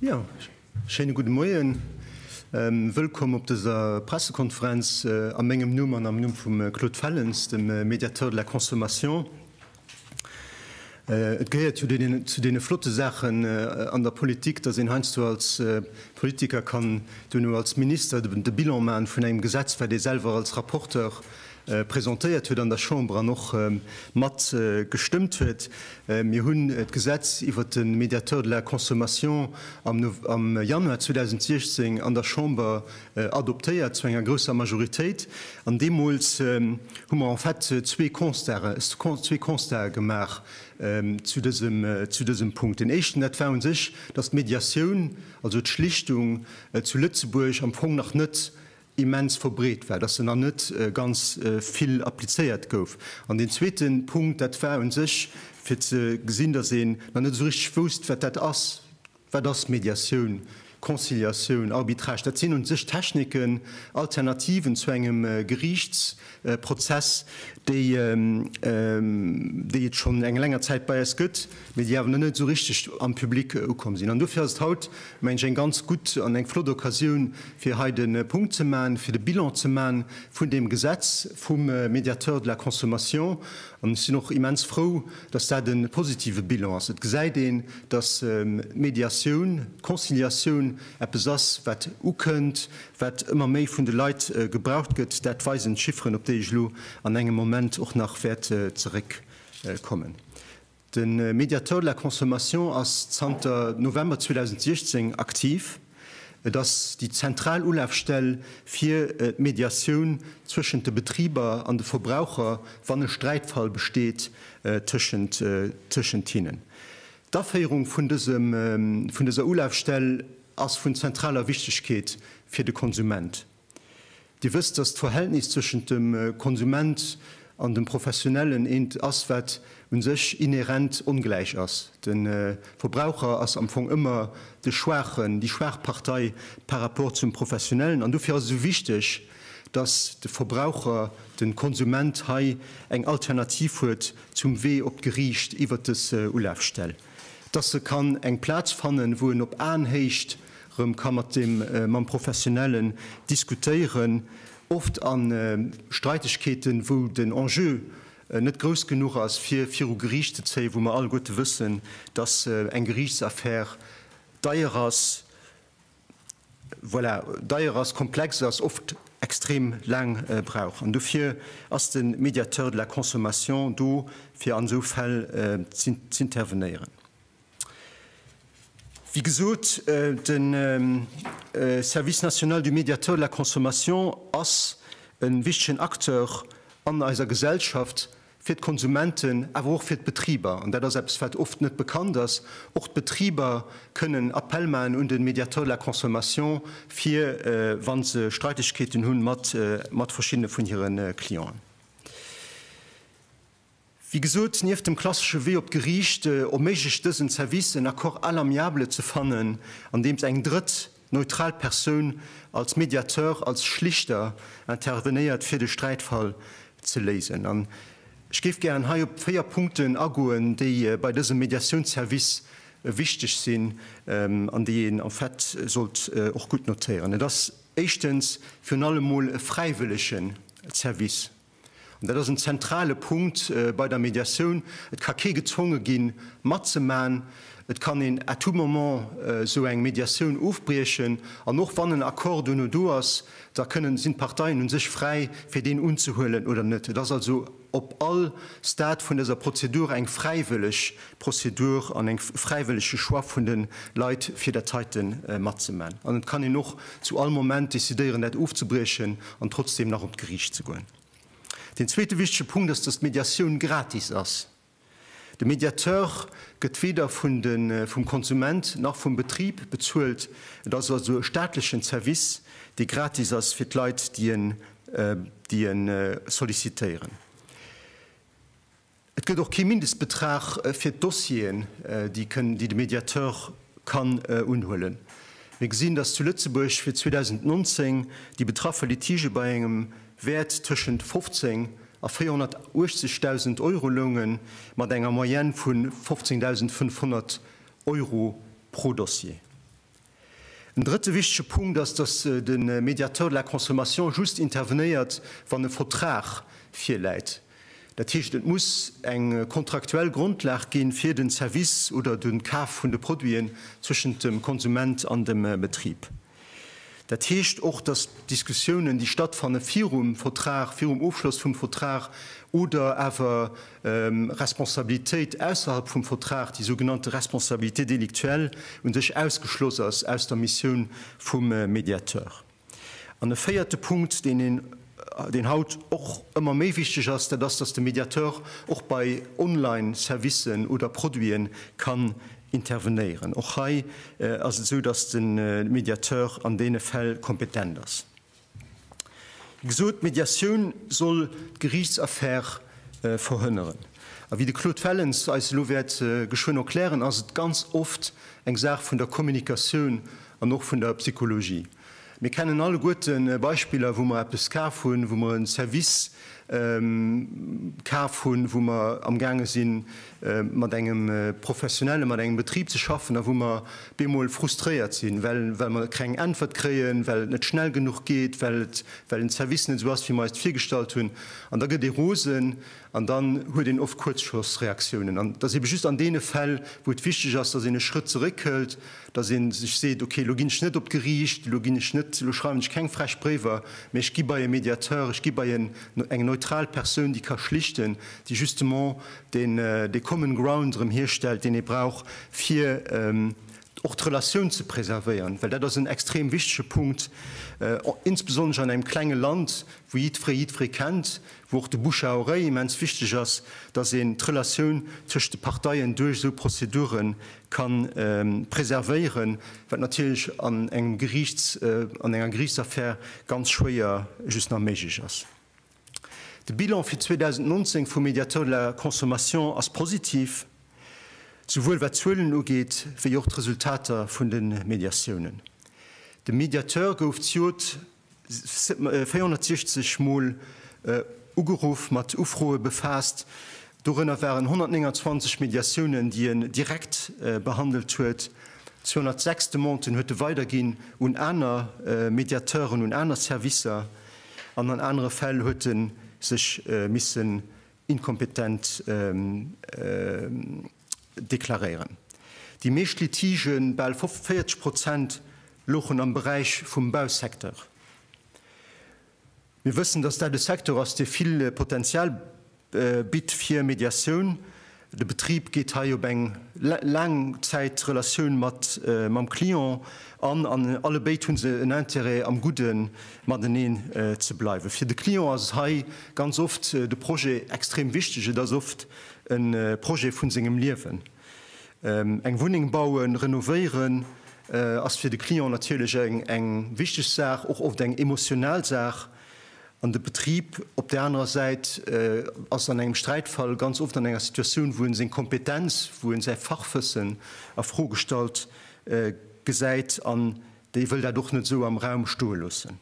Ja, schéine gudde Moien. Wëllkomm op dëser Pressekonferenz a mengem Numm an am Numm vum Claude Fellens, dem Médiateur de la Consommation. Et gehéiert jo zu deene flotte Saachen an der Politik, datt een heiansdo als Politiker kann duerno als Minister de Bilan maachen vun engem Gesetz, wat ee selwer als Rapporteur presentéiert huet an der Chamber an och mat gestëmmt huet. Mir hunn d'Gesetz iwwert de Médiateur de la consommation am am Januar 2016 an der Chamber adoptéiert zu enger grousser Majoritéit. An deemools hu mer en fait zwee Constaten, zwee Constaten gemaach zu dësem, zu dësem Punkt. Deen éischten, dat war u sech, dass d'Médiatioun, also d'Schlichtung zu Lëtzebuerg am Fong nach net immens verbreet war, dass se nach net ganz vill applizéiert gouf. An deen zweeten Punkt, dat war u sech, fir ze gesinn, dass een nach net esou richteg wousst, wat dat ass. Wat ass Mediatioun, Conciliatioun, Arbitrage? Dat sinn u sech Techniken, Alternativen zu engem Geriichts-, Prozess, déi et schonn eng länger Zäit bei eis gëtt, mee déi awer nach net esou richteg am Public ukomm sinn. An dofir ass et haut, meng ech, eng ganz gutt an eng flott Occasioun, fir hei de Punkt ze maachen, fir de Bilan ze maachen vun deem Gesetz vum Médiateur de la consommation. An ech sinn och immens frou, dass dat e positive Bilan ass. Et gesäit een, dass d'Mediatioun, d'Conciliatioun, eppes ass, wat ukënnt, wat ëmmer méi vun de Leit gebraucht gëtt. Dat weisen d'Chifferen, op déi ech elo an engem Moment och nach wäert zeréckkommen. De Médiateur de la consommation ass zanter November 2016 aktiv. Et ass déi zentral Ulafstell fir d'Mediatioun zwëschent de Betriber an de Verbraucher, wann e Sträitfall besteet tëschent hinnen. D'Aféierung vun dëser Ulafstell ass vun zentraler Wichtegkeet fir de Konsument. Dir wësst, dass d'Verhältnis zwëschent dem Konsument an dem Professionellen eent ass, wat u sech inhärent ongläich ass. De Verbraucher ass am Fong ëmmer de Schwaachen, déi schwaach Partei par rapport zum Professionellen. An dofir ass et esou wichteg, dass de Verbraucher, de Konsument hei eng Alternativ huet zum Wee op d'Geriicht iwwer des Ulafstell, dass se kann eng Plaz fannen, wou en op Aenhéicht rëm ka mat dem, mam Professionellen diskutéieren, oft a Streitegkeeten, wou den Enjeu net grouss genuch ass fir viru Geriicht ze zéien, wou mer alleguerte wëssen, dass eng Geriichtsaffär deier ass. Voilà, deier ass, komplex ass, oft extrem laang brauch. An dofir ass de Médiateur de la consommation do, fir an esou Fäll z'intervenéieren. Wéi gesot, de Service national du Médiateur de la consommation ass e wichtegen Acteur an eiser Gesellschaft, fir d'Konsumenten, awer och fir d'Betriber, an dat ass eppes, wat oft net bekannt ass, och d'Betriber kënnen Appell maachen un de Médiateur de la consommation, fir wa se Streitegkeeten hunn mat verschiddene vun hire Clienten. Wéi gesot, nieft dem klassesche Wee op d'Geriicht erméiglecht dësen Service, en Accord à l'amiable ze fannen, andeems eng Drëtt Neutral Persoun, als Mediateur, als Schlichter intervenéiert fir de Sträitfall ze léisen. An ech géif gären hei op véier Punkten agoen, déi bei dësem Mediatiounsservice wichteg sinn an déi een en fait sollt och gutt notéieren. Et ass éischtens virun allem mol e fräiwëllegen Service. An dat ass en zentrale Punkt bei der Mediatioun, Et ka kee gezwonge ginn, matzemaachen. Et kann een à tout moment esou eng Mediatioun ofbriechen. An och wann en Accord duerno do ass, da kënnen, sinn d'Parteien u sech fräi, fir deen unzehuelen oder net. Et ass also op all Stade vun dëser Prozedur eng fräiwëlleg Prozedur an eng fräiwëllege Choix vun de Leit fir dat heite matzemaachen. An et kann een och zu all Moment decidéieren dat ofzebriechen an trotzdeem nach op d'Geriicht ze goen. Deen zweete wichtege Punkt ass, dass d'Mediatioun gratis ass. De Mediateur gëtt weder vun de vum Konsument nach vum Betrib bezuelt. Et ass also e staatlechen Zerwiss, dee gratis ass fir d'Leit, déi en sollicitéieren. Et gëtt och kee Mindestbetrag fir d'Dossieren, déi de Mediateur kann unhuelen. Mir gesinn, dass zu Lëtzebuerg fir 2019 déi betraffe Litigë bei engem Wäert tëschent 15 a 480.000 Euro loungen, mat enger Moyenne vu 15.500 Euro pro Dossier. En drëtte wichtege Punkt ass, dass de Médiateur de la consommation just intervenéiert, wann e Vertrag virläit. Dat heescht, et muss eng kontraktuell Grondlag gi fir de Service oder de Kaf vun de Produiten zwëschent dem Konsument an dem Betrib. Dat heescht och, dass d'Diskussiounen, déi stattfanne virum Vertrag, virum Ofschloss vum Vertrag oder awer Responsabilitéit ausserhalb vum Vertrag, déi sougenannte Responsabilité délictuelle, u sech ausgeschloss ass aus der Missioun vum Mediateur. An e véierte Punkt, deen een, deen haut och ëmmer méi wichteg ass, dat ass, dass de Mediateur och bei Online-Servicen oder Produite kann intervenéieren. Och hei ass et esou, dass de Mediateur an deene Fäll kompetent ass. Wéi gesot, d'Médiatioun soll d'Geriichtsaffär verhënneren. A wéi de Claude Fellens eis elo wäert geschwënn erklären, ass et ganz oft eng Saach vun der Kommunikatioun an och vun der Psychologie. Mir kennen alleguerte Beispiller, wou mer eppes kaf hunn, wou mer e Service kaf hunn, wou mer amgaange sinn, mat engem Professionelle, mat engem Betrib ze schaffen a wou mer bemol frustréiert sinn, well mer keng Äntwert kréien, well et net schnell genuch geet, well den Service net esou ass, wéi mer eis et virgestallt hunn. An da gëtt ee rosen an dann huet een oft Kuerzschlossreaktiounen. An et ass eebe just an deene Fäll, wou et wichteg ass, datt een e Schrëtt zeréckhëlt, datt ee sech seet, okay, elo ginn ech net op d'Geriicht, elo ginn ech net, elo schreiwen ech keng frech Bréiwer, mä ech gi bei e Mediateur, ech gi bei eng neutral Persoun, déi ka schlichten, déi justement deen de common ground erëm hierstellt, deen ee brauch fir och d'Relatioun ze preservéieren, well dat ass en extrem wichtege Punkt, insbesonnesch an engem klenge Land, wou jiddweree jiddweree kennt, wou och de bouche à oreille immens wichteg ass, datt een d'Relatioun tëschent de Parteien duerch esou Prozedure ka preservéieren, wat natierlech an engem Geriichts, an enger Geriichtsaffär ganz schwéier just nach méiglech ass. De Bilan fir 2019 vum Médiateur de la consommation ass positiv, souwuel wat d'Zuelen ugeet, wéi och d'Resultater vun de Mediatiounen. De Médiateur gouf d'Jod 460 Mol ugeruff, mat Ufroe befaasst. Dorënner waren 129 Mediatiounen, déi en direkt behandelt huet, 206 Demanden huet e weiderginn un aner Mediateuren, un aner Servicer. An an anere Fäll huet e sech missen inkompetent deklaréieren. Déi meescht Litigen, bal 40 Prozent, louchen am Beräich vum Bausecteur. Mir wëssen, dass dat e Secteur ass, dee vill Potenzial Bitt fir Mediatioun. De Betrib geet hei op eng Laangzäitrelatioun mat mam Client an, an allebéid hu se en Intérêt am Gudde mateneen ze bleiwen. Fir de Client ass et hei ganz oft de Projet extrem wichteg. Et ass oft e Projet vun sengem Liewen. Eng Wunneng bauen, renovéieren ass fir de Client natierlech eng wichteg Saach, och oft eng emotional Saach. An de Betrib op där anerer Säit ass an engem Sträitfall ganz oft an enger Situatioun, wou en seng Kompetenz, wou en säi Fachwëssen a Fro gestallt gesäit an déi wëll dat och net esou am Raum stoe loossen.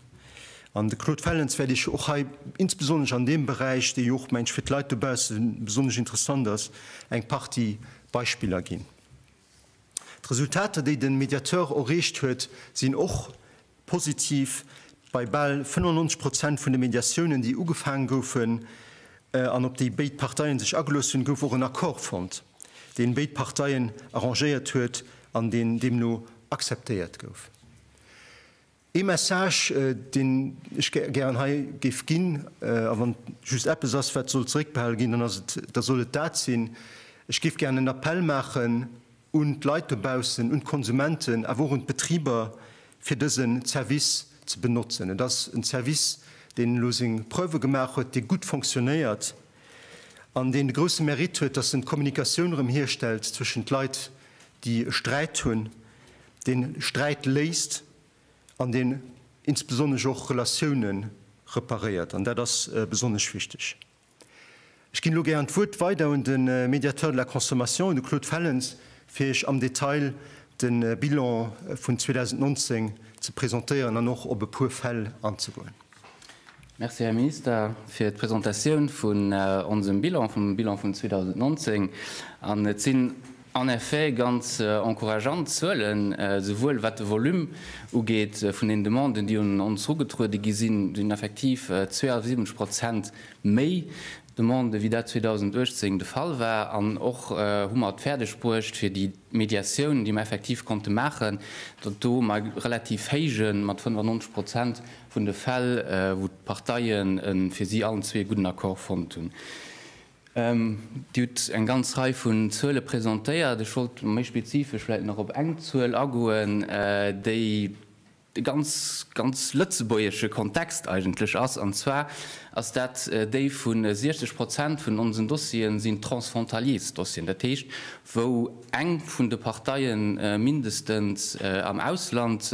An de Claude Fellens wäert ech och hei insbesonnesch an deem Beräich, dee jo och, mengen ech, fir d'Leit dobausse besonnesch interessant ass, eng Partie Beispiller ginn. D'Resultater, déi de Mediateur erreecht huet, sinn och positiv. Bei bal 95 Prozent vun de Mediatiounen, déi ugefaange goufen an op déi béid Parteien sech agelooss hunn, gouf och en Accord fonnt, deen béid Parteien arrangéiert huet an deen deemno akzeptéiert gouf. Ee Message, deen ech gären hei géif ginn, a wann et just eppes ass, wat soll zeréckbehale ginn, dann ass et, da soll et dat sinn, Ech géif gären en Appell maachen un d'Leit dobaussen, un d'Konsumenten, awer och un d'Betriber, fir dëse Service ze benotzen. Et ass en Service, deen elo seng Preuve gemaach huet, dee gutt fonctionnéiert. an deen de grousse Mérite huet, dass en d'Kommunikatioun erëm hierstellt zwëschent Leit, déi e Sträit hunn, deen Sträit léist an deen insbesonnesch och Relatioune reparéiert, an dat ass besonnesch wichteg. Ech ginn elo gären d'Wuert weider un de Médiateur de la consommation, un de Claude Fellens, fir Iech am Detail de Bilan vun 2019 ze presentéieren an och op e puer Fäll anzegoen. Merci, Här Minister, fir d'Presentatioun vun onsem Bilan, vum Bilan vun 2019. An et sinn en effet ganz encourageant Zuelen, souwuel wat de Volume ugeet vun den Demanden, déi un ons erugetruede gi sinn, do sinn effektiv 72 Prozent méi Demanden, wéi dat 2018 de Fall war. An och hu mer et fäerdegbruecht, fir déi Mediatioun, déi mer effektiv konnte maachen, datt do mer e relativ héije, mat 95 Prozent vun de Fäll, wou d'Parteien e fir si allen zwee gudden Accord fonnt hunn. Dir hutt eng ganz Rei vun Zuele presentéiert. Ech wollt méi spezifesch vläicht nach op eng Zuel agoen, déi, e ganz, ganz lëtzebuergesche Kontext eigentlech ass, an zwar ass dat déi vu 60 Prozent vun onsen Dossiere sinn transfrontaliers Dossieren, dat heescht, wou eng vun de Parteie mindestens am Ausland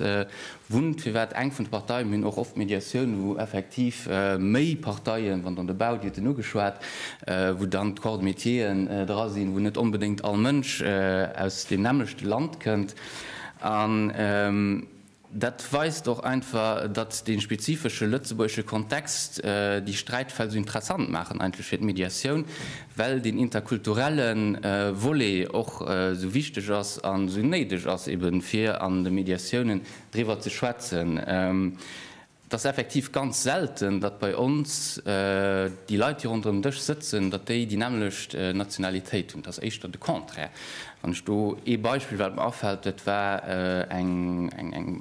wunnt, firwat eng vun de Parteien, mir hunn och oft Mediatioun, wou effektiv méi Parteien, wann dann de Bau, Dir hutt en ugeschwat, wou dann d'Corps de métieren dra sinn, wou net onbedéngt all Mënsch aus deem nämmlechte Land kënnt. An dat weist och einfach, datt dee spezifesche lëtzebuergesche Kontext déi Sträitfäll esou interessant maachen eigentlech fir d'Mediatioun, well deen interkulturelle Volet och esou wichteg ass an esou néideg ass, ebe fir an de Mediatiounen driwwer ze schwätzen. Et ass effektiv ganz selten, datt bei ons déi Leit, déi ronderëm den Dësch sëtzen, datt déi déi nämmlecht Nationalitéit hunn. Et ass éischter de Contraire. Wann ech do ee Beispill, wat mer afält, dat war eng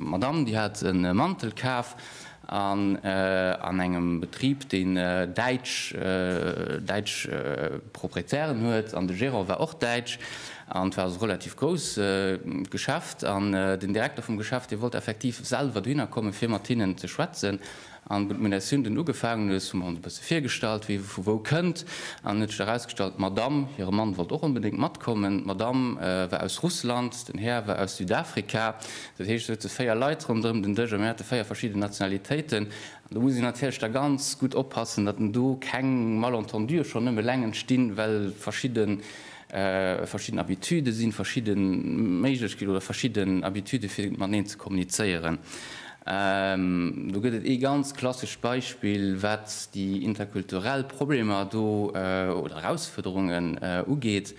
Madamm, déi hat e Mantel kaf an engem Betrib, deen däitsch Proprietären huet, an de Gérant war och däitsch. An et war also relativ grouss Geschäft an den Direkter vum Geschäft, dee wollt effektiv selwer dohinner kommen, fir mat hinnen ze schwätzen. An wou d'Munitioun dunn ugefaangen huet, hu mer ons e bësse virgestallt, wie vu wou kënnt. An et huet sech erausgestallt, d'Madamm, hire Mann wollt och onbedéngt matkommen. D'Madamm war aus Russland, den Här war aus Südafrika. Dat heescht, et souze véier Leit ronderëm den Dësch a mir hate véier verschidden Nationalitéiten. An do muss een natierlech da ganz gutt oppassen, datt do keng Malentendue schonn nëmme eleng entstinn, well verschidde verschidden Habitude sinn, verschidde Méiglechkeeten oder verschidden Habitude fir mateneen ze kommunizéieren. Do gëtt et ee ganz klassescht Beispill, wat déi interkulturell Problemer do oder Erausfuerderungen ugeet.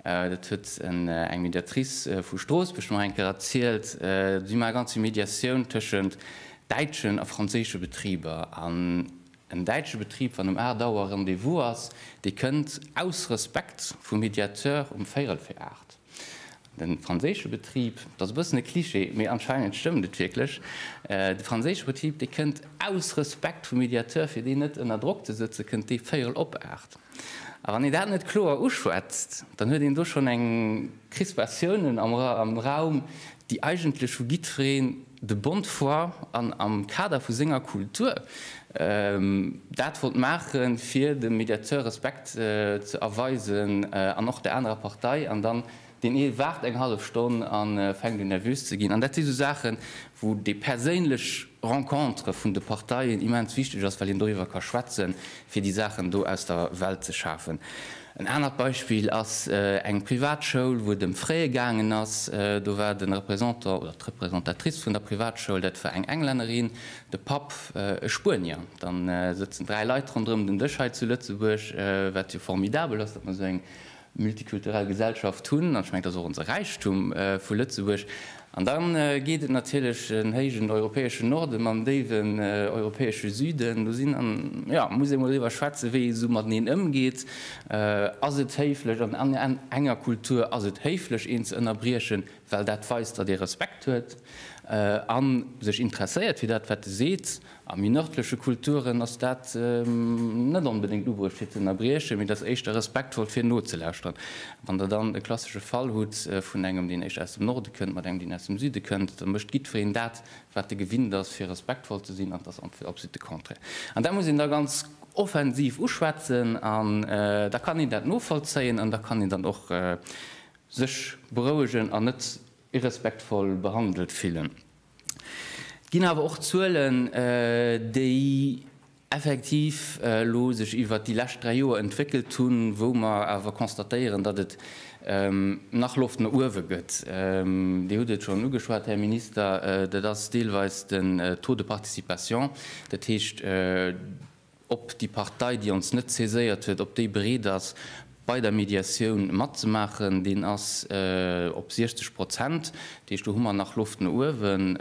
Dat huet eng Mediatrice vu Stroossbuerg mer eng Kéier erzielt. Si maache ganz vill Mediatioun tëschent däitschen a franséische Betriber. En däitsche Betrib, wann um 8 Auer Rendez-vous ass, dee kënnt aus Respekt vum Mediateur um véirel fir 8. De franséische Betrib, dat ass e bëssen e Cliché, mee anscheinend stëmmt et wierklech, de franséische Betrib, dee kënnt aus Respekt vum Mediateur, fir deen net ënner Drock ze sëtzen, kënnt dee véirel op 8. A wann een dat net kloer uschwätzt, dann huet een do schonn eng Crispatiounen am Raum, déi eigentlech vu jiddwereen, de Bond d'Foire an am Kader vu senger Kultur dat wollt maache fir dem Mediateur Respekt ze erweisen an och der anerer Partei an dann deen ee waart eng hallef Stonn a fänkt un nervös ze ginn an dat si sou Saache wou déi perséinlech Rencontre vun de Parteien immens wichteg ass, well een doriwwer ka schwätze fir déi Saachen do aus der Welt ze schafen. En anert Beispill ass eng Privatschoul, wou et ëm Fraie gaangen ass. Do war de Représentant oder d'Representatrice vun der Privatschoul, dat war eng Englännerin, de Papp e Spuenier. Da sëtzen dräi Leit ronderëm den Dësch hei zu Lëtzebuerg, wat jo formidabel ass, datt mer esou eng multikulturell Gesellschaft hunn. An ech mengen, dat ass och onse Räichtum vu Lëtzebuerg. An da geet et natierlech den héijen europäeschen Norden mam déiwen europäesche Süden. Do sinn, an jo, muss ee mol driwwer schwätzen, wéi ee esou mateneen ëmgeet. Ass et héiflech? An an enger Kultur ass et héiflech, een ze ënnerbriechen, well dat weist, datt ee Respekt huet a sech interesséiert fir dat, wat e seet. A méi nërdleche Kulturen ass dat net onbedéngt ubruecht fir z'ënnerbriechen, mee et ass éischter respektvoll fir nozelauschteren. Wann Der dann e klassesche Fall hutt vun engem, deen éischter aus dem Norde kënnt, mat engem, deen aus dem Süde kënnt, da mécht jiddwereen dat, wat e gewinnt ass, fir respektvoll ze sinn, an et ass absolutt de Contraire. An dat muss een da ganz offensiv uschwätzen an da kann een dat novollzéien an da kann een dann och sech berouegen an net irrespektvoll behandelt fillen. Et ginn awer och Zuelen, déi effektiv elo sech iwwert déi lescht dräi Joer entwéckelt hunn, wou mer awer constatéieren, datt et nach Loft no uewe gëtt. Dir hutt et schonn ugeschwat, Här Minister, dat ass deelweis den Taux de participation, dat heescht, ob déi Partei, déi ons net saiséiert huet, ob déi bereet ass, bei der Mediatioun matzemaachen, deen ass op 60 Prozent. Dat heescht, do hu mer nach Loft no uewen.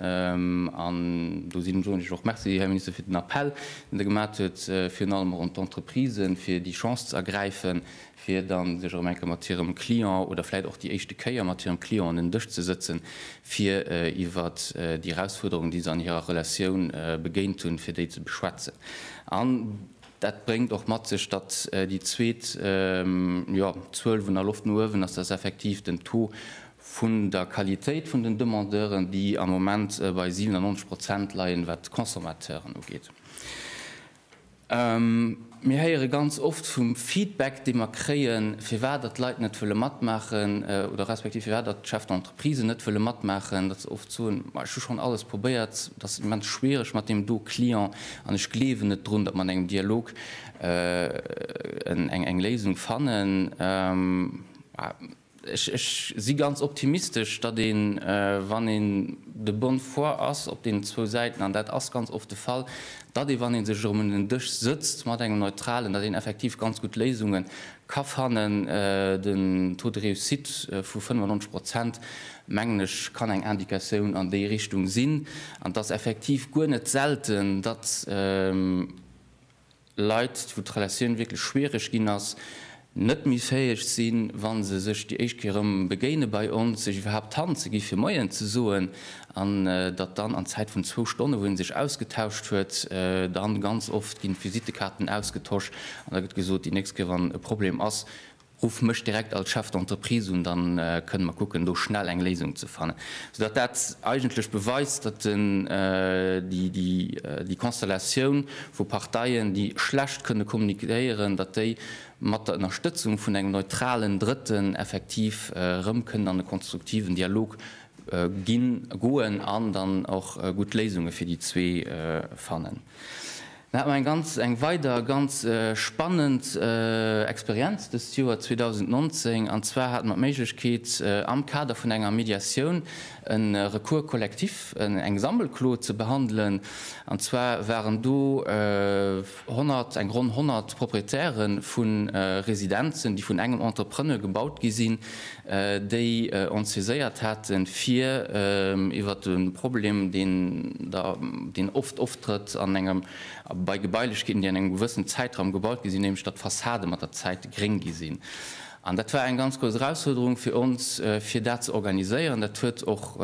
An do sinn, soen ech och Merci, Här Minister, fir den Appell, deen Der gemat huet, virun allem och un d'Entreprisen, fir déi Chance z'ergräifen, fir da sech erëm eng Kéier mat hirem Client oder vläicht och déi éischte Kéier mat hirem Client un en Dësch ze sëtzen, fir iwwer déi Erausfuerderungen, déi se an hirer Relatioun begéint hunn, fir déi ze beschwätzen. An dat bréngt och mat sech, datt déi zweet, jo, Zuel vun der Loft no uewen ass, datt effektiv den Taux vun der Qualitéit vun den Demandeuren, déi am Moment bei 97 Prozent leien, wat d'Consommateuren ugeet. Mir héiere ganz oft vum Feedback, dee mer kréien, firwat datt d'Leit net wëlle matmaachen oder respektiv firwat datt d'Chefs d'entreprise net wëlle matmaachen, datt se oft soen, Ma ech hu schonn alles probéiert, et ass immens schwiereg mat deem do Client an ech gleewen net drun, datt mer an engem Dialog eng Léisung fannen. Ech si ganz optimistesch, datt een, wann een de bonne foi ass op deenen zwou Säiten, an dat ass ganz oft de Fall, datt ee, wann ee sech erëm un en Dësch sëtzt mat engem Neutralen, datt een effektiv ganz gutt Léisunge ka fannen. Den Taux de réussite vu 95 Prozent, mengen ech, kann eng Indicatioun an déi Richtung sinn. An et ass effektiv guer net selten, datt. Leit, wou d'Relatioun wierklech schwiereg ginn ass, net méi fäeg sinn, wa se sech déi éischt Kéier erëm begéinen bei ons, sech iwwerhaapt d'Hand ze gi fir Moien ze soen, an datt dann an Zäit vun zwou Stonnen, wou ee sech ausgetauscht huet, dann ganz oft ginn d'Visitekaarten ausgetosch an da gëtt gesot, déi nächst Kéier wann e Problem ass, Ruff mech direkt als Chef d'entreprise un, dann kënnen mer kucken do schnell eng Léisung ze fannen. Soudatt dat eigentlech beweist, datt déi Konstellatioun vu Parteien, déi schlecht kënne kommuniquéieren, datt déi mat der Ënnerstëtzung vun engem neutralen Drëtten effektiv erëm kënnen an e konstruktiven Dialog ginn, goen an dann och gutt Léisunge fir déi zwee fannen. Mir haten eng ganz, eng weider ganz spannend Experienz dëst Joer 2019, an zwar hate mer d'Méiglechkeet am Kader vun enger Mediatioun e Recours collectif, eng Sammelklo ze behandelen. An zwar waren do 100, eng ronn 100 Proprietäre vu Residenzen, déi vun engem Entrepreneur gebaut gi sinn, déi ons saiséiert haten, fir iwwert de Problem, deen da, deen oft oftrëtt an engem, bei Gebailechkeeten, déi an engem gewëssenen Zäitraum gebaut gi sinn, nämlech datt d'Fassade mat der Zäit gréng gi sinn. An dat war eng ganz grouss Erausfuerderung fir ons, fir dat ze organiséieren. Dat huet och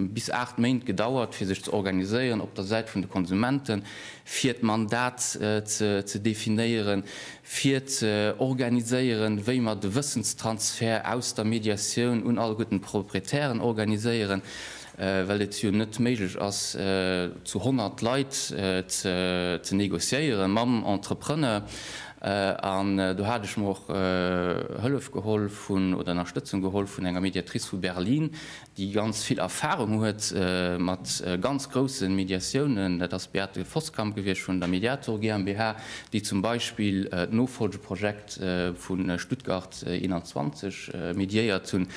bis aacht Méint gedauert, fir sech ze organiséieren op der Säit vun de Konsumenten, fir d'Mandat ze definéieren, fir ze organiséieren, wéi mer de Wëssenstransfert aus der Mediatioun un all gudden Proprietären organiséieren, well et jo net méiglech ass, zu 100 Leit ze négociéieren mam Entrepreneur. An do hat ech mer och Hëllef geholl vun, oder Ënnerstëtzung geholl vun enger Mediatrice vu Berlin, déi ganz vill Erfahrung huet mat ganz grousse Mediatiounen, dat ass d'Beate Voskamp gewiescht vun der Mediator GmbH, déi zum Beispill d'Nofolgeprojekt vu Stuttgart 21 mediéiert hunn,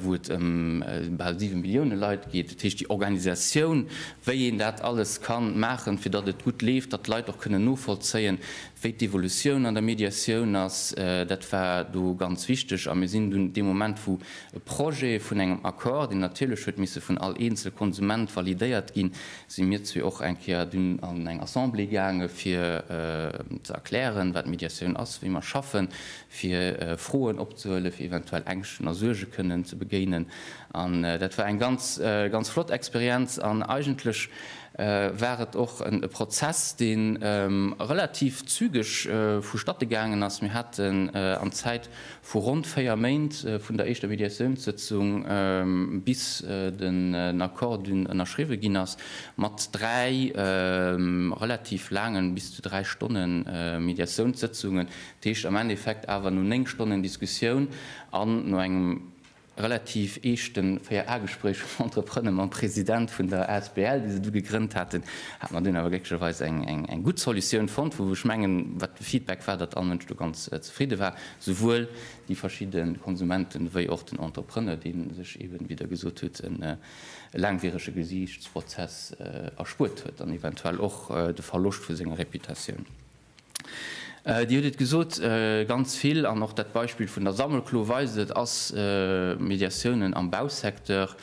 wou et ëm bal 7 Millioune Leit geet. Dat heescht, déi Organisatioun, wéi een dat alles ka maachen, fir datt et gutt leeft, datt d'Leit och kënnen novollzéien, wéi d'Evolutioun an der Mediatioun ass, dat war do ganz wichteg. A mir sinn dunn dee Moment, wou E Projet vun engem Accord, deen natierlech huet misse vun all eenzel Konsument validéiert ginn, si mir zwee och eng Kéier dunn an eng Assemblée gaange fir ze erklären, wat Mediatioun ass, wéi mer schaffen, fir Froen opzehuelen, fir eventuell Ängschten a Suerge kënnen ze begéinen. An dat war eng ganz, ganz flott Experienz an eigentlech war et och e Prozess, dee relativ zügeg vu Statte gaangen ass. Mir haten an Zäit Vu ronn 4 Méint, vun der éischter Mediatiounssëtzung bis den Accord dunn ënnerschriwwe ginn ass, mat 3 relativ laangen, bis zu 3 Stonne Mediatiounssëtzungen, dat heescht am Endeffekt awer no 9 Stonnen Diskussioun an no engem relativ eeschten Véier-A-Gespréich vum Entrepreneur mam President vun der Asbl, déi se du gegrënnt haten, hat mer dunn awer glécklecherweis eng gutt Solutioun fonnt, wou ech mengen, wat de Feedback war, datt all Mënsch do ganz zefridde war, souwuel déi verschidde Konsumenten wéi och den Entrepreneur, dee sech eeben, wéi Der gesot hutt, e laangwierege Gesiichtsprozess erspuert huet an eventuell och de Verloscht vu senger Reputatioun. Dir hutt et gesot, ganz vill, an och dat Beispill vun der Sammelklo weist et, ass Mediatiounen am Bausecteur.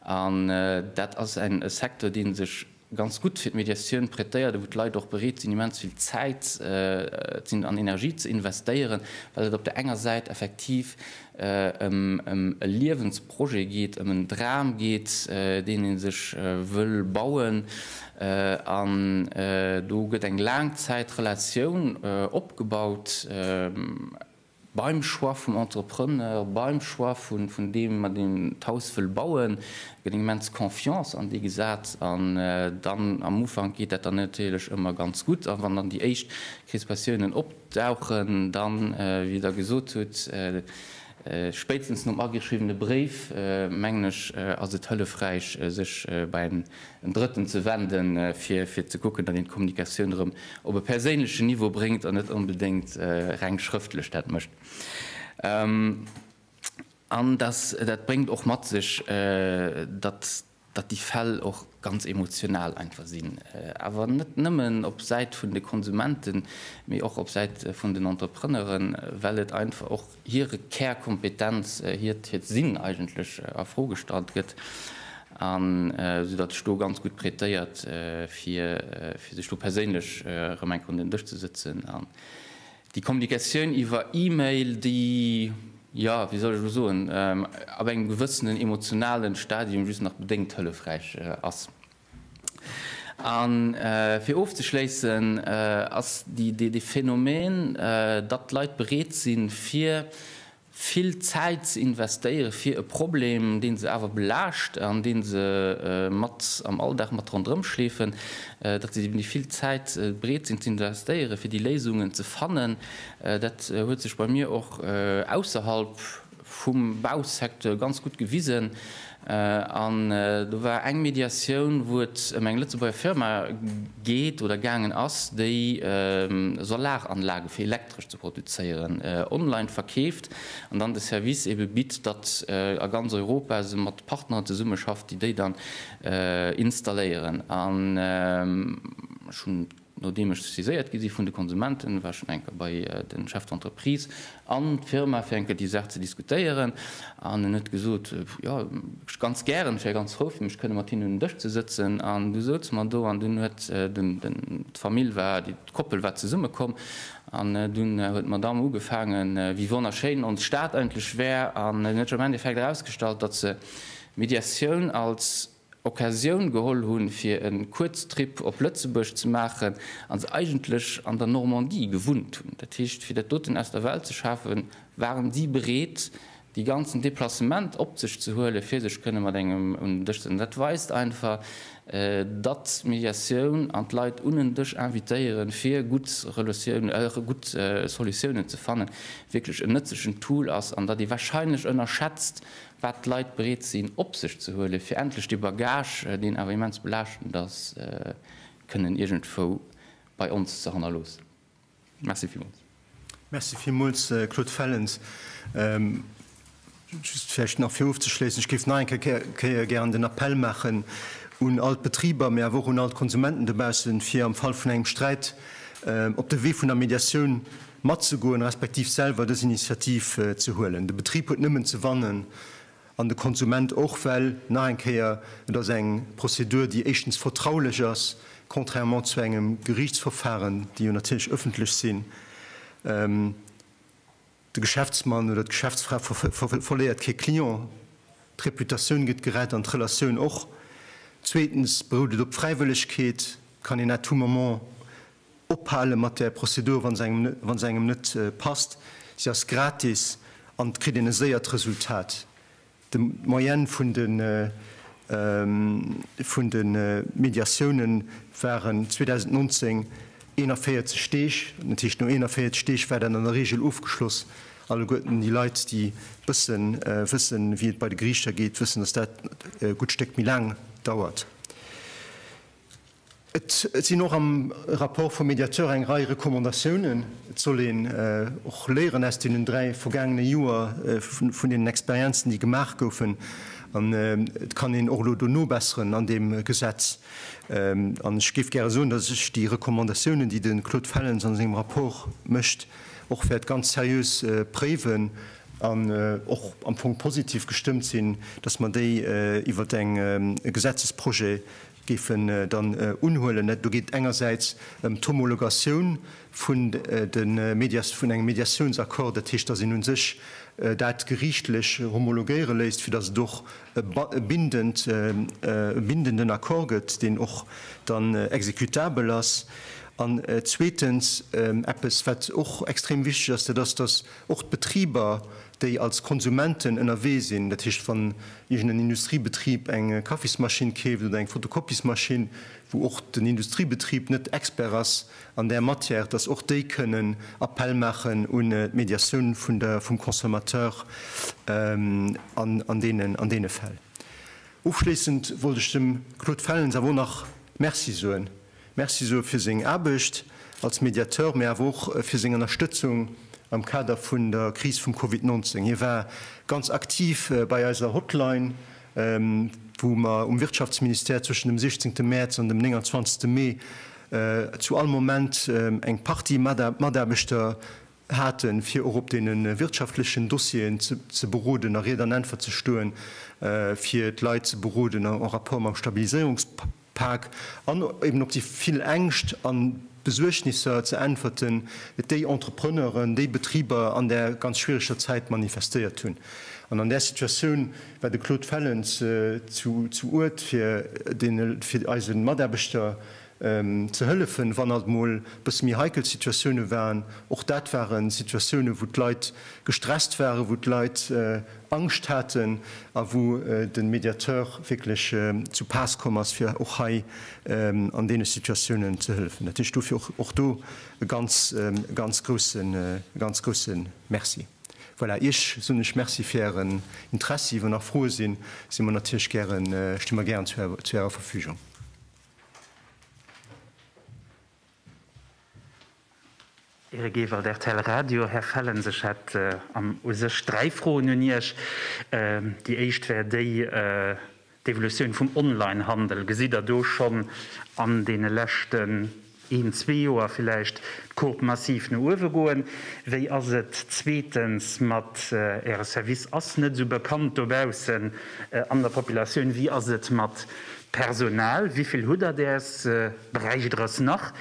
An dat ass e Secteur, dee sech ganz gutt fir d'Mediatioun prêtéiert a wou d'Leit och bereet sinn, immens vill Zäit an Energie ze investéieren, well et op där enger Säit effektiv ëm e Liewensprojet geet, ëm en Dram geet, deen ee sech wëll bauen. An do gëtt eng Laangzäitrelatioun opgebaut beim Choix vum Entrepreneur, beim Choix vun deem, mat deem d'Haus wëll bauen, gëtt eng immens Confiance an déi gesat. An dann am Ufank geet dat dann natierlech ëmmer ganz gutt. A wann dann déi éischt Krispatiounen op. Dauchen dann, wéi Der gesot hutt, spéitstens nom ageschriwwene Bréif, mengen ech, ass et hëllefräich, sech bei en Drëtten ze wenden, fir ze kucken, datt een d'Kommunikatioun erëm op e perséinlechen Niveau bréngt an net onbedéngt reng schrëftlech dat mécht. An dat bréngt och mat sech, datt. datt déi Fäll och ganz emotional einfach sinn, awer net nëmmen op Säit vun de Konsumenten, mee och op Säit vun den Entrepreneuren, well et einfach och hire Kärkompetenz, hiert Sinn eigentlech a Fro gestallt gëtt, an esou datt ech do ganz gutt prätéiert, fir sech do perséinlech erëm eng Konnt un den Dësch ze sëtzen. Déi Kommunikatioun iwwer E-Mail, déi, jo, wéi soll ech elo soen, ab engem gewëssenen emotionalen Stadium just nach bedéngt hëllefräich ass. A fir ofzeschléissen, ass dee Phänomen, datt d'Leit bereet sinn, fir vill Zäit ze investéieren, fir e Problem, deen se awer belaascht an deen se mat am Alldag mat ronderëm schleefen, datt se déi vill Zäit bereet sinn ze investéieren, fir déi Léisungen ze fannen. Dat huet sech bei mir och ausserhalb vum Bausecteur ganz gutt gewisen. An do war eng Mediatioun, wou et ëm eng Lëtzebuerger Firma geet oder gaangen ass, déi Solaranlage fir. elektresch ze produzéieren, online verkeeft an dann de Service ebe bitt, datt a ganz Europa se mat Partneren zesummeschafft, déi déi dann installéieren. An ech hunn, nodeem ech saiséiert gi si vun de Konsumenten, war ech schonn eng Kéier bei de Chef d'entreprise an d'Firma, fir eng Kéier déi Saach ze diskutéieren. An en huet gesot, Jo, ganz gären, ech wär ganz frou fir mech kënne mat hinnen un en Dësch ze sëtzen. An du souz mer do an dunn huet den, d'Famill war, D'Koppel war zesumme komm an dunn huet d'Madame ugefaangen, wéi wonnerschéin ons Stad eigentlech wär. An et huet sech am Endeffekt erausgestallt, datt se d'Médiatioun als Occasioun geholl hunn, fir e Kuerztrip op Lëtzebuerg ze maachen a se eigentlech an der Normandie gewunnt hunn. Dat heescht, fir dat doten aus der Welt ze schafen, waren si bereet, dee ganzen Deplacement op sech ze huelen, fir sech kënne mat engem un den Dësch setzen, dat weist einfach, datt d'Mediatioun an d'Leit un en Dësch invitéiere fir gutt Solutiounen ze fannen, wierklech en nëtzlechen Tool ass an datt ee wahrscheinlech ënnerschätzt, wat d'Leit bereet sinn op sech ze huelen, fir endlech dee Bagage, deen awer immens belaaschtend ass, kënnen iergendwou bei ons ze hannerloossen. Merci villmools. Merci villmools, Claude Fellens. Just vläicht nach, fir ofzeschléissen, Ech géif nach eng Kéier gären den Appell maachen un all d'Betriber, mee awer och un all d'Konsumenten dobaussen, fir am Fall vun engem Sträit op de Wee vun der Mediatioun matzegoen, respektiv selwer dës Initiativ ze huelen. De Betrib huet nëmmen ze wannen, An de Konsument och, well, nach eng Kéier, et ass eng Prozedur, déi éischtens vertraulech ass, contrairement zu engem Gerichtsverfahren, déi jo natierlech ëffentlech sinn. De Geschäftsmann oder d'Geschäftsfra verléiert kee Client, d'Reputatioun gëtt gerett an d'Relatioun och. Zweetens berout et op Fräiwëllegkeet, kann een à tout moment, Ophale mat där Prozedur, wa se engem, wa se engem net passt. Se ass gratis an et kritt een e séiert Resultat. De, d'Moyenne vun de, vun de Mediatiounen waren 2019 41 Deeg. Dat heescht, no 41 Deeg war dat an der Reegel ofgeschloss. Alleguerten déi Leit, déi bësse wëssen, wéi et bei de Geriichter geet, wëssen, dass dat e gutt Stéck méi laang dauert. Et sinn och am Rapport vum Mediateur eng Rei Recommandatiounen. Et soll een och léieren aus deenen dräi vergaangene Joer, vun deenen Experienzen, déi gemaach goufen. An et kann een och elo do nobesseren an deem Gesetz. An ech géif gäre soen, datt ech déi Recommandatiounen, déi de Claude Fellens a sengem Rapport mécht, och wäert ganz seriös préiwen an och am Fong positiv gestëmmt sinn, datt mer déi iwwert e Gesetzesprojet géifen dann unhuelen. Do geet et engersäits ëm d'Homologatioun vun de Medias-, vun engem Mediatiounsaccord, dat heescht, dass een u sech dat geriichtlech homologéiere léisst, fir dass et och e bindend, e bindenden Accord gëtt, deen och dann exécutabel ass. An zweetens, eppes wat och extrem wichteg ass, dat ass, dass Och d'Betriber, déi als Konsumenten ënnerwee sinn, dat heescht wann iergendeen Industriebetrib eng Kaffismaschinn keeft oder eng Fotokopiesmaschinn, wou och den Industriebetrib net Expert ass an där Matière, dass och déi kënnen Appell maachen un d'Mediatioun vun der, vum Consommateur an deenen, an deene Fäll. Ofschléissend wollt ech dem Claude Fellens awer och nach Merci soen. Merci soe fir seng Aarbecht als Mediateur, mee awer och fir seng Ënnerstëtzung am Kader vun der Kris vum Covid 19. Hie war ganz aktiv bei eiser Hotline, wou mer um Wirtschaftsministère zwëschen dem 16 Mäerz an dem 29 Mee zu all Moment eng Partie Mataarbechter haten, fir och op deene wirtschaftlechen Dossieren ze beroden a Ried an Äntwert ze stoen, fir d'Leit ze beroden en rapport mam Stabiliséierungspak. Paak an eben op déi vill Ängscht an Besuergnisser ze äntwerten, déi Entrepreneuren, déi Betriber an där ganz schwiereger Zäit manifestéiert hunn. An an där Situatioun war de Claude Fellens zu Uert fir deene, fir eise Mataarbechter ze hëllefen, wann alt mol bësse méi heikel Situatiounen waren. Och dat ware Situatiounen, wou d'Leit gestresst waren, wou d'Leit Angscht haten a wou de Mediateur wierklech zu Paass komm ass, fir och hei an deene Situatiounen ze hëllefen. Dat heescht dofir och do e ganz, ganz grousse, ganz grousse Merci. Voilà, Iech soen ech Merci fir Ären Interessi. Wann nach Froe sinn, si mer natierlech gären, sti mer gären zu Ärer Verfügung. Ehre Gewalt, rtl Radio. Här Fellens, ech hätt an u sech dräi Froen un Iech. Déi éischt wär déi, D'Evolutioun vum Onlinehandel, gesitt Der do schonn an deene leschten een, zwee Joer villäicht d'Courbe massiv no uewe goen? Wéi ass et zweetens mat Äre Service? Ass net esou bekannt dobaussen an der Populatioun. Wéi ass et mat Personal? Wéi vill hutt Der däers? Beräich et eres nach?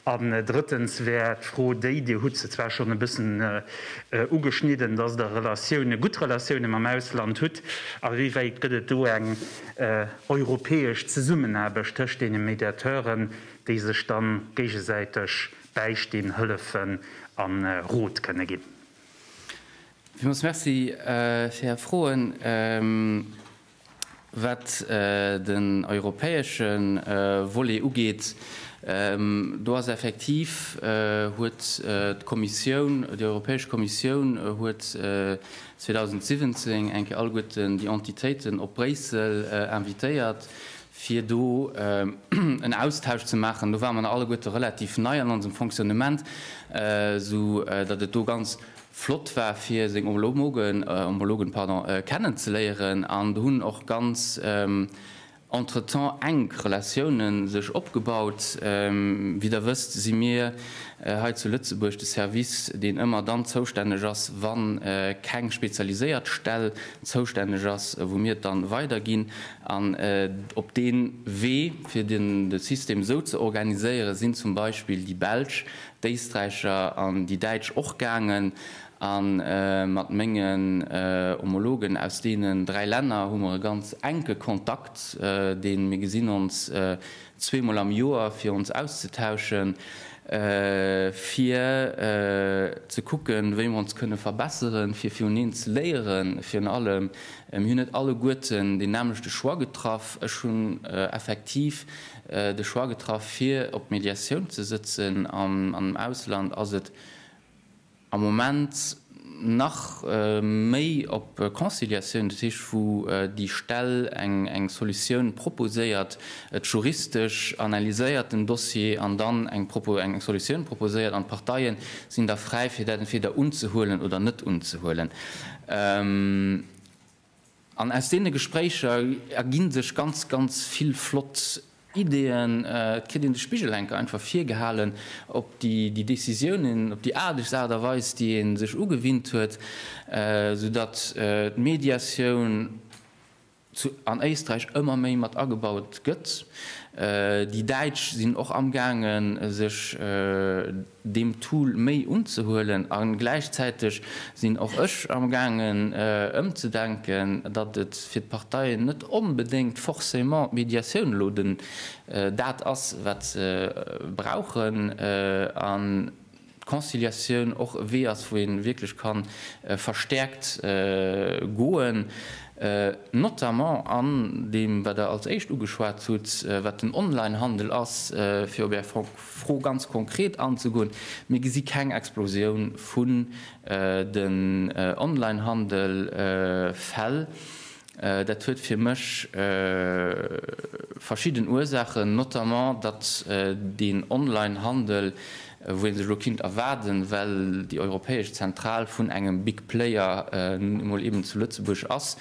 An drëttens wär d'Fro déi, Dir hutt se zwar schonn e bëssen ugeschnidden, dass Der Relatioune, gutt Relatioune mam Ausland hutt, a wéi wäit gëtt et do eng europäesch Zesummenaarbecht tëscht deene Mediateuren, déi sech da géigesäiteg bäistinn, hëllefen a Rot kënne ginn? Villmools Merci fir Är Froen. Wat den europäesche Volet ugeet, do ass effektiv, huet d'Kommissioun, déi Europäesch Kommissioun huet 2017 eng Kéier alleguerten déi Entitéiten op Bréissel invitéiert, fir do en Austausch ze maachen. Do ware mer nach alleguerte relativ nei an onsem Fonctionnement, esou datt et do ganz flott war fir seng Ombologen, Ombologen pardon, kennen ze léieren an do hunn och ganz entretemps enk Relatiounen sech opgebaut. Wéi der wësst si mir hei zu Lëtzebuerg de Service deen ëmmer dann zoustänneg ass wann keng spezialiséiert Stell zoustänneg ass wou mir et dann weider ginn an op deen Wee fir den de System esou ze organiséieren sinn zum Beispill déi Belsch d'Éisträicher an déi Däitsch och gaangen a mat mengen Homologen aus deenen dräi Länner hu mer e ganz enke Kontakt, deen, mir gesinn ons zwee Mol am Joer fir ons auszetauschen, fir ze kucken, wéi mer ons kënne verbesseren, fir viruneen ze léieren. Virun allem, mir hunn net alleguerten deen nämmlechte Choix getraff. Ech hunn effektiv de Choix getraff fir op d'Médiatioun ze sëtzen. An am Ausland ass et am Moment nach méi op Conciliatioun, dat heescht wou déi Stell eng Solutioun proposéiert, et juristesch analyséiert den Dossier an dann eng Solutioun proposéiert an d'Parteie sinn da fräi fir dat entweder unzehuelen oder net unzehuelen. An aus deene Gespréicher erginn sech ganz, ganz vill flott Ideeën. Et kritt een de Spigel enker einfach virgehalen op déi Décisiounen, op déi aardeg Aart a Weis, déi ee sech ugewinnt huet, sou datt d'Médiatioun zu an Éisträich ëmmer méi mat agebaut gëtt. Déi Däitsch sinn och amgaangen sech. deem Tool méi unzehuelen a gläichzäiteg sinn och ech am gaangen ëmzedenken, datt et fir d'Parteien net onbedéngt forcément d'Médiatioun elo den dat ass wat se brauchen an d'Conciliatioun och e Wee ass wou ee wierklech ka verstäerkt goen, notamment an deem wat Der als éischt ugeschwat hutt, wat den Onlinehandel ass, fir op Är Fro ganz konkret anzegoen, Mir gesi keng Explosioun vun den Online-Handel-Fäll. Dat huet fir mech verschidden Ursaachen, notamment datt deen Online-Handel, wou ee sech elo kinnt erwaarden, well déi europäesch Zentral vun engem Big Player nun emol eeben zu Lëtzebuerg ass,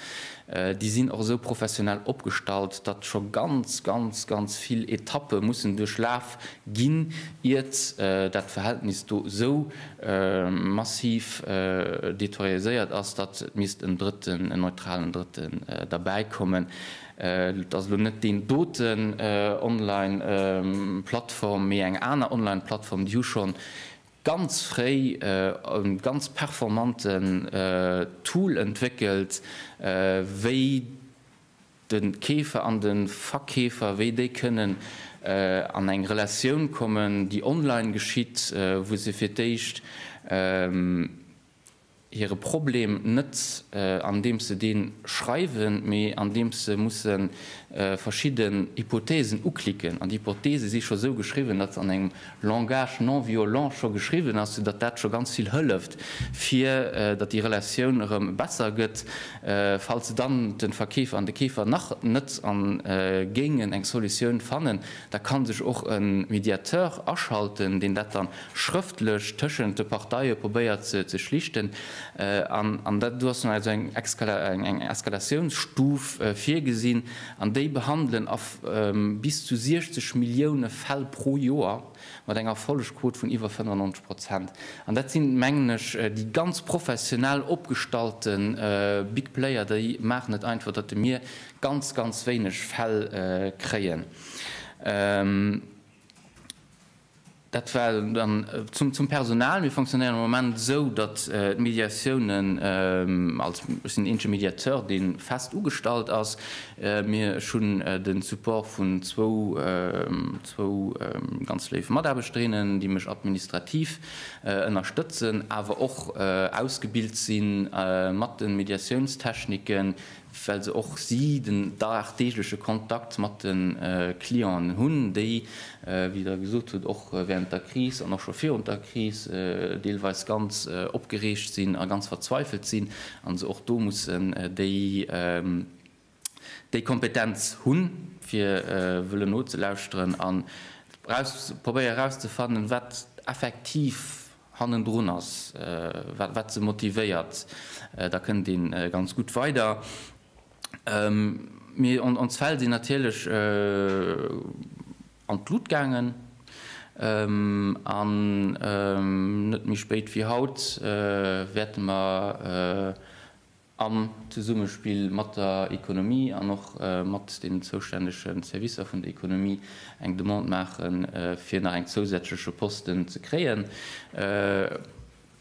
Déi sinn och esou professionell opgestallt, datt scho ganz, ganz, ganz vill Etappe mussen duerchlaf ginn, iert dat Verhältnis do esou massiv deterioréiert ass, datt et misst en Drëtten, en neutralen Drëtten derbäi kommen. Et ass elo net deen doten Online-Plattform, mee eng aner Online-Plattform. Déi hu schonn ganz fréi e ganz performanten Tool entwéckelt, wéi de Keefer an de Verkeefer, wéi déi kënnen an eng Relatioun kommen, déi online geschitt, wou se fir d'éischt. hire Problem net andeems se dee schreiwen, mee andeems se musse verschidden Hypothesen uklicken. An déi Hypothese si scho sou geschriwwen, datt se an engem Langage non violent scho geschriwwen ass, soudatt dat scho ganz vill hëlleft, fir datt déi Relatioun erëm besser gëtt. Falls dann de Verkeefer an de Keefer nach net géingen eng Solutioun fannen, Da kann sech och e Mediateur aschalten, deen dat da schrëftlech tëschent de Parteie probéiert ze schlichten. An dat, do ass dann also eng Eskalatiounsstuf virgesinn. An déi behandelen a bis zu 60 Millioune Fäll pro Joer mat enger Erfollegquot vun iwwer 95 Prozent. An dat sinn, mengen ech, déi ganz professionell opgestallte Big Player. Déi maachen et einfach, datt de Mir ganz ganz wéineg Fäll kréien. Dat well dann zum zum Personal, mir fonctionnéieren am Moment esou, datt d'Médiatiounen als ech sinn eenzege Médiateur dee fest ugestallt ass, mir ech hunn de Support vun zwou zwou ganz léif Mataarbechterinnen déi mech administrativ ënnerstëtzen, awer och ausgebilt si mat de Mediatiounstechniken well se och si den dagdeegleche Kontakt mat de Clienten hunn, déi, wéi Der gesot hutt, och während der Kris an och scho virun der Kris deelweis ganz opgereegt sinn a ganz verzweifelt sinn a se och do mussen déi Kompetenz hunn, fir wëllen nozelauschteren an probéieren erauszefannen, wat effektiv hannendrun ass, wat se motivéiert, da kënnt ee ganz gutt weider. Mir an ons Fäll sinn natierlech an d'Lut gaangen an net méi spéit wéi haut wäerte mer Am Zesummespill mat der Ekonomie an och mat den zoustännege Servicer vun der Ekonomie eng Demande maache fir nach eng zousätzleche Posten ze kréien,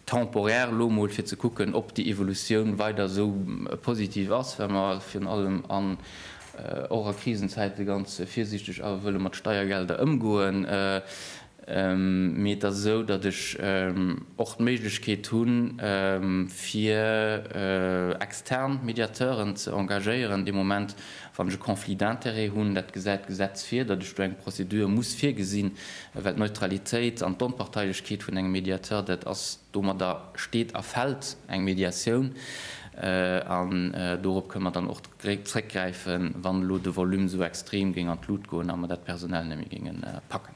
temporaire elo emol, fir ze kucken, ob déi Evolutioun weider esou positiv ass, well mer virun allem an och a Krisenzäite ganz virsiichteg awer wëlle mat Steiergelder ëmgoen. Mee et ass esou, datt ech och d'Méiglechkeet hu fir extern Mediateuren ze engagéieren dee Moment, wann ech e Conflit d'intérêts hunn. Dat gesäit d'Gesetz vir, datt ech do eng Prozedur muss virgesinn, well d'Neutralitéit an d'Onparteilechkeet vun engem Mediateur, dat ass, domadder steet a fält eng Mediatioun. An dorop kënne mer dann och zréckgräifen, wann elo de Volume esou extrem géing an d'Lut goen a mer dat personell net méi géinge packen.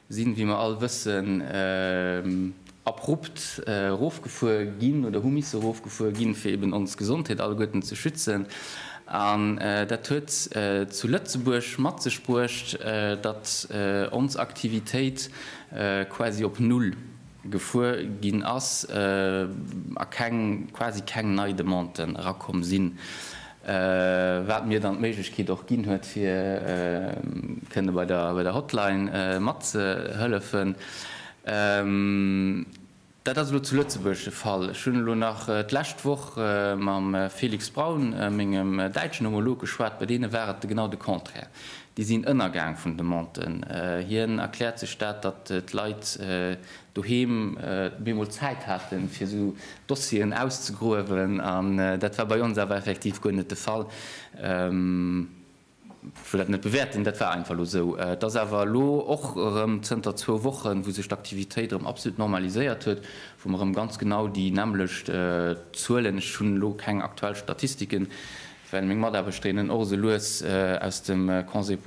sinn, wéi mer all wëssen, abrupt erofgefuer ginn oder hu misse erofgefuer ginn, fir eben ons Gesondheet alleguerten ze schützen. An dat huet zu Lëtzebuerg mat sech bruecht, datt ons Aktivitéit quasi op Null gefuer ginn ass a quasi keng nei Demanden erakomm sinn. wat mir dann d'Méiglechkeet och ginn huet fir kënne bei der Hotline matzehëllefen. Dat ass elo zu Lëtzebuerg de Fall. Ech hunn elo nach d'lescht Woch mam Felix Braun, mengem däitschen Homolog, geschwat. Bei deene war et genau de Contraire, déi sinn ënnergaang vun Demanden. Hien erkläert sech dat, datt d'Leit doheem bemol Zäit haten, fir esou Dossieren auszegruewen, an dat war bei ons awer effektiv guer net de Fall. Ech wëll dat net bewäerten, dat war einfach elo esou. Et ass awer elo och erëm zënter zwou Wochen, wou sech d'Aktivitéit erëm absolut normaliséiert huet, wou mer erëm ganz genau déi nämmlecht Zuelen, ech hunn elo keng aktuell Statistiken, well meng Mataarbechterinnen och esou lues aus dem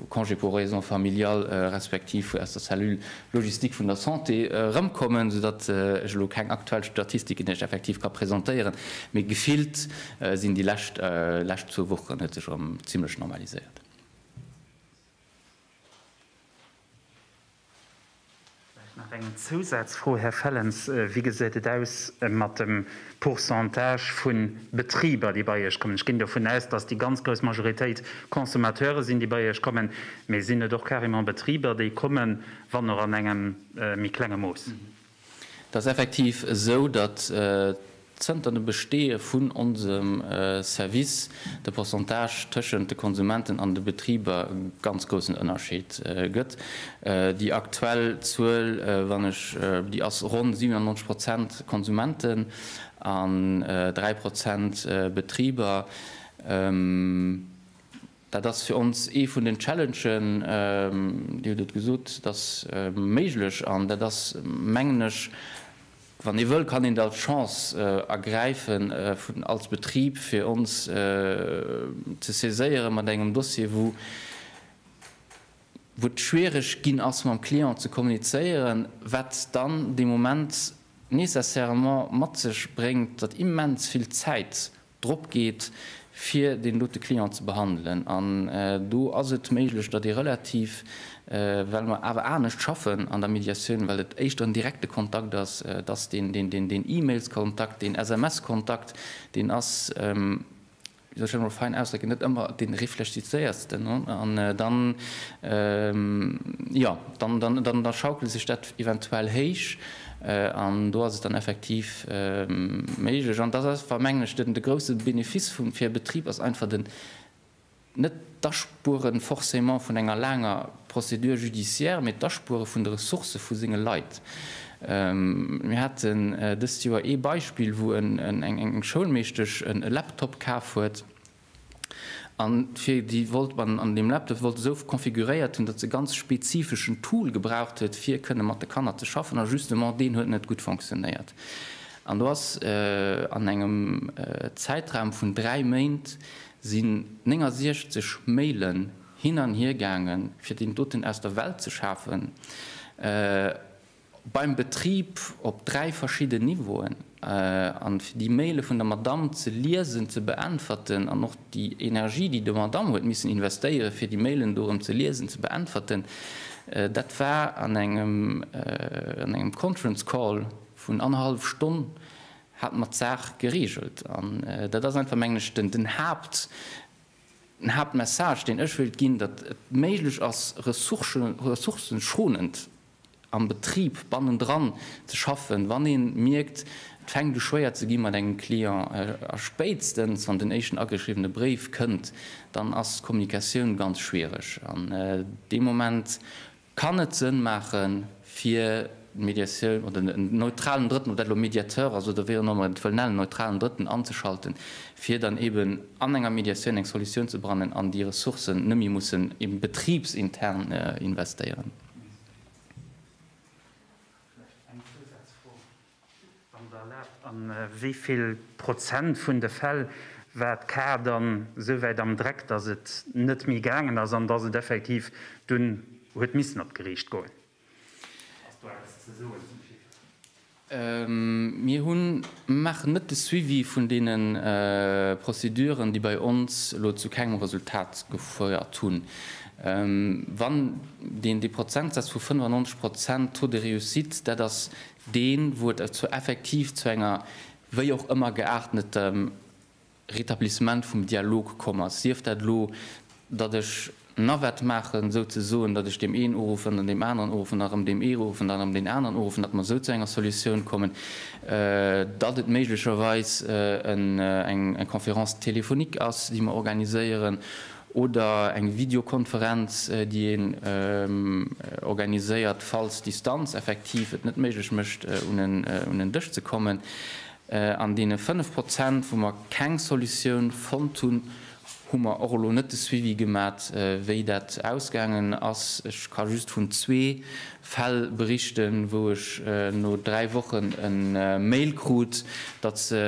Congé pour raisons familiales respektiv aus der Cellule logistique vun der Santé erëmkommen, soudatt ech elo keng aktuell Statistiken Iech effektiv ka presentéieren, mee gefillt sinn déi lescht lescht zwou Wochen huet sech erëm zimlech normaliséiert. Vläicht nach eng Zousazfro, Här Fellens, Wéi gesäit et aus mat dem Pourcentage vu Betriber, déi bei Iech kommen? Ech ginn dovun aus, dass déi ganz grouss Majoritéit Consommateure sinn, déi bei Iech kommen. Mee sinn et och carrément Betriber, déi kommen, wann och an engem méi klenge Mooss? Et ass effektiv esou, datt zënter dem Besteeë vun onsem Service de Pourcentage tëschent de Konsumenten an de Betriber e ganz groussen Ënnerscheed gëtt. Déi aktuell Zuel, wann ech déi ass ronn 97 Prozent Konsumenten an 3 Prozent Betriber. Dat ass fir ons ee vun den Challengen, Dir hutt et gesot, et ass méiglech an dat ass, mengen ech, wann ee wëll, kann een et als Chance ergräifen als Betrib, fir ons ze saiséiere mat engem Dossier, wou et schwierig ginn ass mam Client ze kommunizéieren, wat dann dee Moment nécessairement mat sech bréngt, datt immens vill Zäit drop geet, fir deen dote Client ze behandelen. An do ass et méiglech, datt ee relativ, well mer awer anescht schaffen an der Mediatioun, well et éischter en direkte Kontakt ass, datt deen E-Mails-Kontakt, deen SMS-Kontakt, deen ass, wéi soll ech dat emol fein ausdrécken, net ëmmer dee reflechizéiertsten. An dann, jo, dann schaukelt sech dat eventuell héich. An do ass et dann effektiv méiglech, an dat ass, mengen ech, de grouse Benefice fir e Betrib, ass einfach den, net d'Aspuere forcément vun enger laanger Procédure judiciaire, mee d'Aspuere vun de Ressourcë vu senge Leit. Mir haten dëst Joer ee Beispill, wou eng Schoulmeeschtesch e Laptop kaf huet, An fir déi wollt man an deem Laptop wollt esou configuréiert hunn, datt se ganz spezifeschen Tool gebraucht huet fir kënne mat de Kanner ze schaffen a justement deen huet net gutt fonctionnéiert. An do ass an engem Zäitraum vun 3 Méint sinn 69 Mailen hin an hir gaangen fir deen doten aus der Welt ze schafen. beim Betrib op dräi verschidden Niveauen, a fir déi Maile vun der Madamm ze liesen, ze beäntwerten, an och déi Energie, déi de Madamm huet missen investéieren, fir déi Mailen do erëm ze liesen, ze beäntwerten, dat war an engem, an engem Conference Call vun annerhallef Stonn hat mer d'Saach geregelt. An dat ass einfach, mengen ech, den, den Haapt, den Haaptmessage, deen ech wéilt ginn, datt et méiglech ass, ressourcen, ressourcenschonend am Betrib bannendran ze schaffen, wann ee mierkt, et fänkt u schwéier ze gi mat engem Client, a spéitstens wann den éischten ageschriwwene Bréif kënnt, dann ass d'Kommunikatioun ganz schwiereg. An dee Moment kann et Sënn maache fir d'Mediatioun oder en neutralen Drëtten, ob dat elo e Mediateur ass oder wéi och ëmmer, et wëll nennen, en neutralen Drëtten anzeschalten, fir dann eeben an enger Mediatioun eng Solutioun ze brannen an déi Ressourcen net méi mussen eeben betribsintern investéieren. Vläicht eng Zousazfro, wann Der erlaabt, A wéi vill Prozent vun de Fäll war d'Kar dann esou wäit am Dreck, dass et net méi gaangen ass an dass et effektiv dunn huet missen op d'Geriicht goen? Ass do eppes ze soen zum Chiffre? Mir hunn, mir maachen net de Suivi vun deene Prozeduren, déi bei ons elo zu kengem Resultat gefouert hunn. Wann deen, dee Prozentsaz vu 95 Prozent Taux de réussite, dat ass deen, wou et effektiv zu enger wéi och ëmmer geaartneter Rétablissement vum Dialog komm ass, sief dat elo, datt ech Navette maachen, souzesoen, datt ech deem een uruffen, dann deem aneren uruffen, dann erëm deem ee uruffen, dann erëm deen aneren uruffen, datt mer esou zu enger Solutioun kommen, datt et méiglecherweis eng Conférence téléphonique ass, déi mer organiséieren, oder eng Videokonferenz, déi een organiséiert, falls d'Distanz effektiv et net méiglech mécht, un en Dësch ze kommen. An deene 5 Prozent, wou mer keng Solutioun fonnt hunn, hu mer och elo net de Suivi gemat, wéi dat ausgaangen ass. Ech ka just vun zwee Fäll berichten, wou ech no dräi Wochen e Mail krut, datt se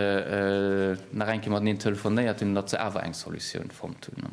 nach eng Kéier mateneen telefonéiert hunn an datt se awer eng Solutioun fonnt hunn.